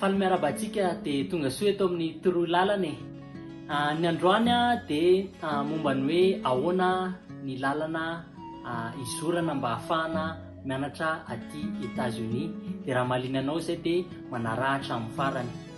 Faly miarahaba antsika dia tonga soa eto amin'ny toroy lalana e. Ah, ny androany dia ah, momba ny hoe ahoana ny lalana ah, izorana mba hahafahana mianatra aty États-Unis. Dia raha mahaliana anao izay dia manarahatra amin'ny farany.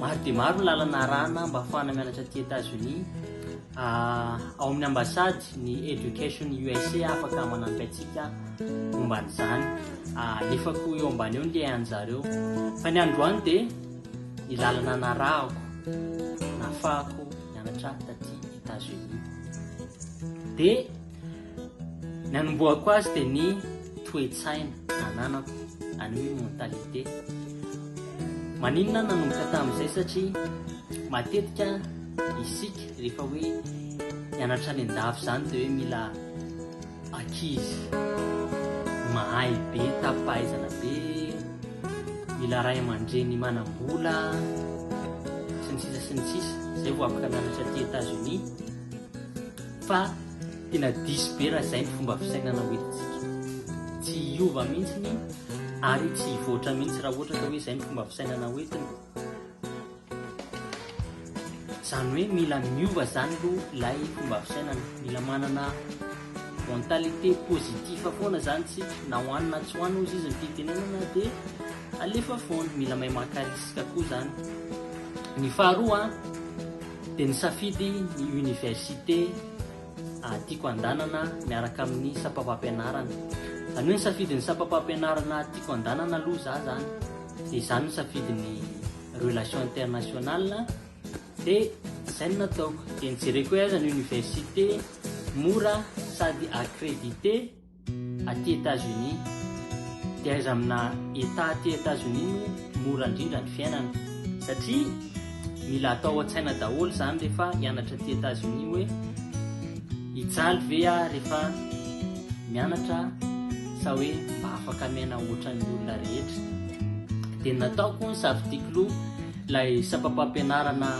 Maro dia maro ny lalana arahana mba afahana mianatra aty Etazonia. Ah, ao amin'ny ambasady ny Education USA afaka manampy antsika momba an'izany. Ah, alefako eo ambany eo ny lehan'zareo. Fa ny androany dia ny lalana narahako, nafahako mianatra taty Etazonia. Dia Ny anombohako azy dia ny toe-tsaina ananako, any hoe mentalité. Maninona nanomboka tamin'izay satria matetika isika rehefa hoe mianatra any an-dafy izany dia hoe mila ankizy mahay be, tapi-pahaizana be, mila ray aman-dreny manam-bola, sy ny sisa sy ny sisa. Izay vao afaka mianatra aty États-Unis. Fa tena diso be raha izay ny fomba fisainana ho hitantsika. Tsy hiova mihitsy ary tsy hivoatra mihitsy raha ohatra ka hoe izay ny fomba fisainana ho entina. Izany hoe mila miova izany aloha ilay fomba fisainana. Mila manana mentalité positive foana izany tsika. Na ho any na tsy ho any hozy izy ny fitenenana dia alefa foana. Mila mahay maka risque koa izany. Ny faharoa Dia nisafidy ny université tiako handanana miaraka amin'ny sampam-pampianarana. Izany hoe nisafidy ny sampam-pampianarana tiako handanana aloha za zany. Dia za no nisafidy ny relation internationale. Dia izay no nataoko. Dia nijereko hoe aiza ny université mora sady accrédité. Aty Etazonia, dia aiza amina Etat aty Etazonia no mora indrindra ny fiainana? Satria mila atao an-tsaina daholo izany rehefa hianatra aty Etazonia hoe hijaly ve aho rehefa mianatra sa hoe mba afaka miaina ohatran'ny olona rehetra? Dia nataoko ny safidiako loha. Ilay sampam-pampianarana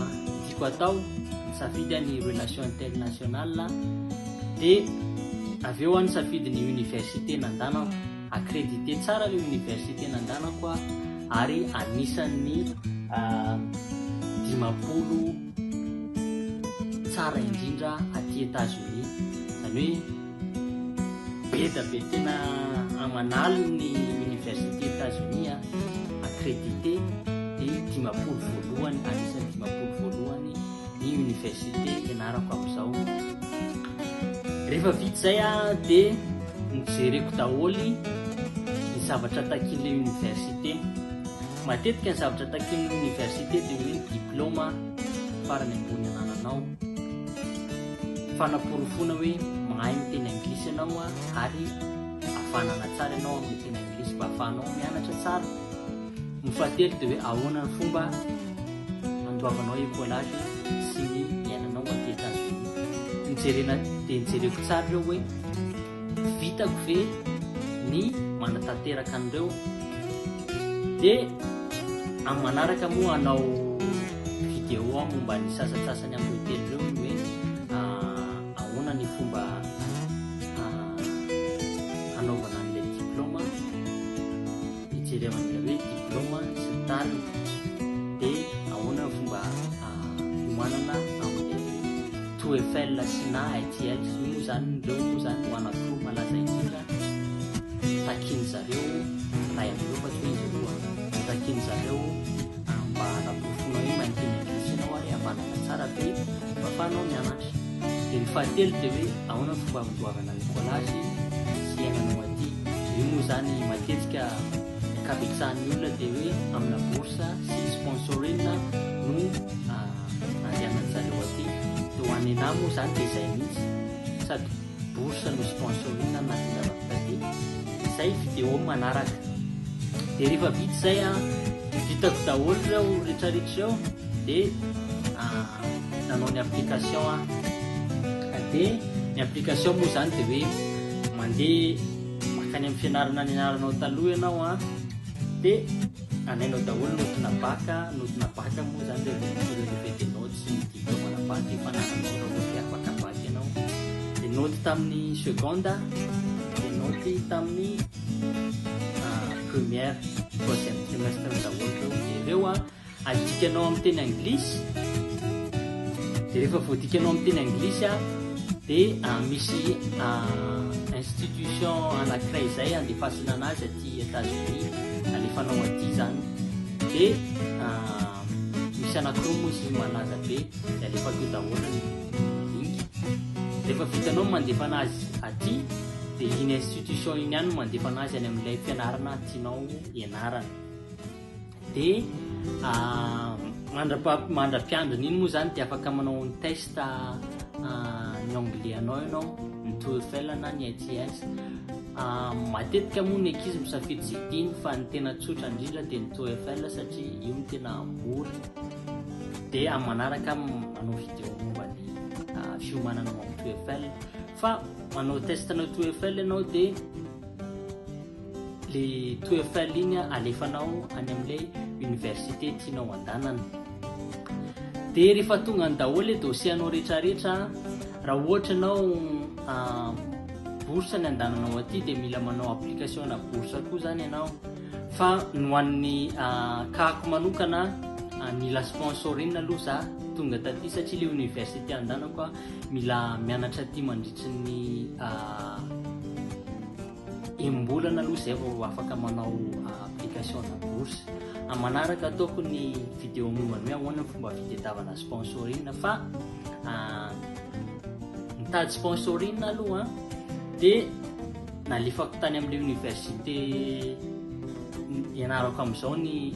tiako atao, safidy ny relation internationale, dia avy eo any safidy ny université nandanako, accrédité tsara ilay université nandanako ary anisan'ny ah, dimampolo tsara indrindra aty États-Unis, izany hoe Beda be tena aman'aliny ny université Etazonia a, accrédité de dimampolo voalohany anisan'ny dimampolo voalohany ny université ianarako amizao. Rehefa vita zay a de nojereko daholy ny zavatra takin'le université. Matetika ny zavatra takin'ny université de hoe ny diploma farany ambony anananao. Fanaporofoana hoe mahay miteny anglisy ianao ary havanana tsara ianao amin'ny teny anglisy mba hahafahanao mianatra tsara. Ny fahatelo dia hoe ahoana ny fomba handoavanao écolage sy ny iainanao aty États-Unis. Ny jerena dia ny jereko tsara ireo hoe Vitako ve ny manatanteraka an'ireo? Dia amin'ny manaraka moa hanao vidéo aho momba ny sasantsasany amin'ireo teny ireo ny hoe ahoana ny fomba hanaovana an'ilay diplaoma. Hijerevana hoe diplôma sy ny tariny dia ahoana ny fomba hiomanana amin'ny To Eiffel sy na ITL sy moa zany ireo moa zany ho anankiroa malaza indrindra takian'ny zareo ray amin'ireo fa toy izy roa ny takian'ny zareo mba hanaporofoana hoe mainteny ankehitriny ao ary havanana tsara be mba fanao mianatra Dia ny fahatelo dia hoe ahoana ny fomba handoavana ny collage sy hiainanao aty. Io moa izany matetika ny ankabetsahan'ny olona dia hoe amina bourse sy sponsoring no andehanan-jareo aty. Dia ho an'i Nena moa izany dia izay mihitsy, sady bourse no sponsoring no nahatonga anao taty. Izay video manaraka. Dia rehefa vita izay, vitako daholo ireo rehetrarehetra ireo dia. nanao ny application aho dia ny application moa izany dia hoe mandeha makany amin'ny fianarana nianaranao taloha ianao a dia anainao daholo notina baka notina baka moa izany dia relevé de notes sy ny diplôme na bac efa nananao raha ohatra afaka bac ianao dia note tamin'ny seconde dia note tamin'ny ah, première troisième trimestre daholo ireo ireo a Adikanao amin'ny teny anglisy, dia rehefa voadikanao amin'ny teny anglisy a, dia ah, misy ah, institution anankiray izay andefasana anazy aty États-Unis, alefanao aty izany, dia ah, misy anankiroa moa izy malaza be, dia alefako eo daholo ny link. Rehefa vitanao ny mandefa anazy aty, dia iny institution iny ihany no mandefa anazy any amin'ilay fianarana tianao ianarana. Dia mandra-piandrony iny moa izany dia afaka manao ny test ny anglais anao ianao, ny TOEFL na ny ITS. Matetika moa ny ankizy misafidy izay tiany fa ny tena tsotra indrindra dia ny TOEFL satria io no tena mora. Dia amin'ny manaraka manao vidéo momba ny fiomanana amin'ny TOEFL. Fa manao test-na TOEFL ianao dia le toetra ligne alefanao any amle université tianao andanana de rehefa tonga ny daholo le dossier anao retraretra raha ohatra anao ah, bourse ny andananao aty de mila manao application na bourse koa zany ianao fa no an'ny ah, kako manokana ah, mila sponsorin aloha za tonga taty satria le université andanako a mila mianatra aty mandritry ny Enim-bolana aloha izay vao afaka manao application-na bourse. Amin'ny manaraka ataoko ny vidéo momba ny hoe ahoana ny fomba fitadiavana sponsoring fa mitady sponsoring aloha dia nalefako tany amin'ilay université ianarako amin'izao ny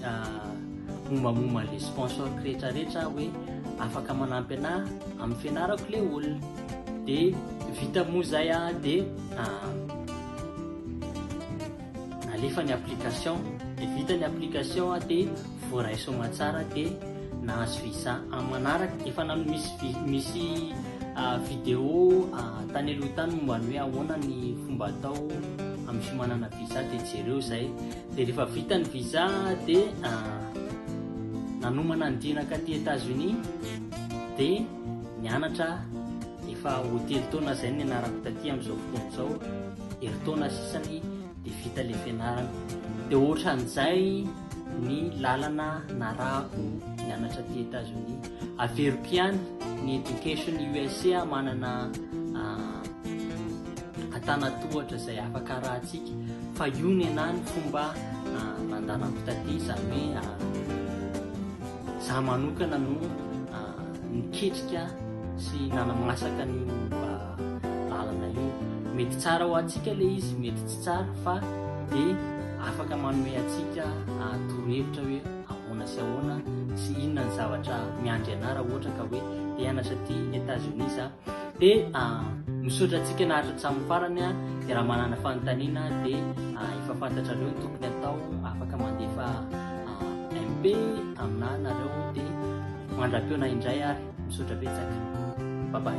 mombamomba an'ilay sponsor rehetrarehetra hoe afaka manampy anà amin'ny fianarako ilay olona. de vita moa zay a de alefa ny application de vita ny application a de voaray soma tsara de nahazo visa am manaraka efa nano misy misy vidéo tany aloha tany momba ny hoe ahoana ny fomba atao amin'ny fiomanana visa de jereo zay de rehefa vita ny visa de nanomana ny dinaka aty États-Unis de mianatra aho, efa ho telo taona izay no nianarako taty amin'izao fotoana izao, herintaona sisany dia vita ilay fianarana. Dia ohatran'izay ny lalana narahako nianatra aty Etazonia. Averiko ihany ny Education USA manana antanatohatra izay afaka arahantsika fa io ny anahy ny fomba nandanako taty izany hoe Za manokana no niketrika sy nanamasaka an'io mba lalana io. Mety tsara ho antsika le izy, mety tsy tsara fa de afaka manome antsika torohevitra hoe ahoana sy ahoana sy inona ny zavatra miandry anà raha ohatra ka hoe te hianatra aty Etats-Unis za. Dia misaotra antsika naharitra hatramin'ny farany a, dia raha manana fanontaniana dia efa fantatrareo ny tokony atao, afaka mandefa MP aminà nareo dia mandram-peona indray ary misaotra betsaka. Bye bye.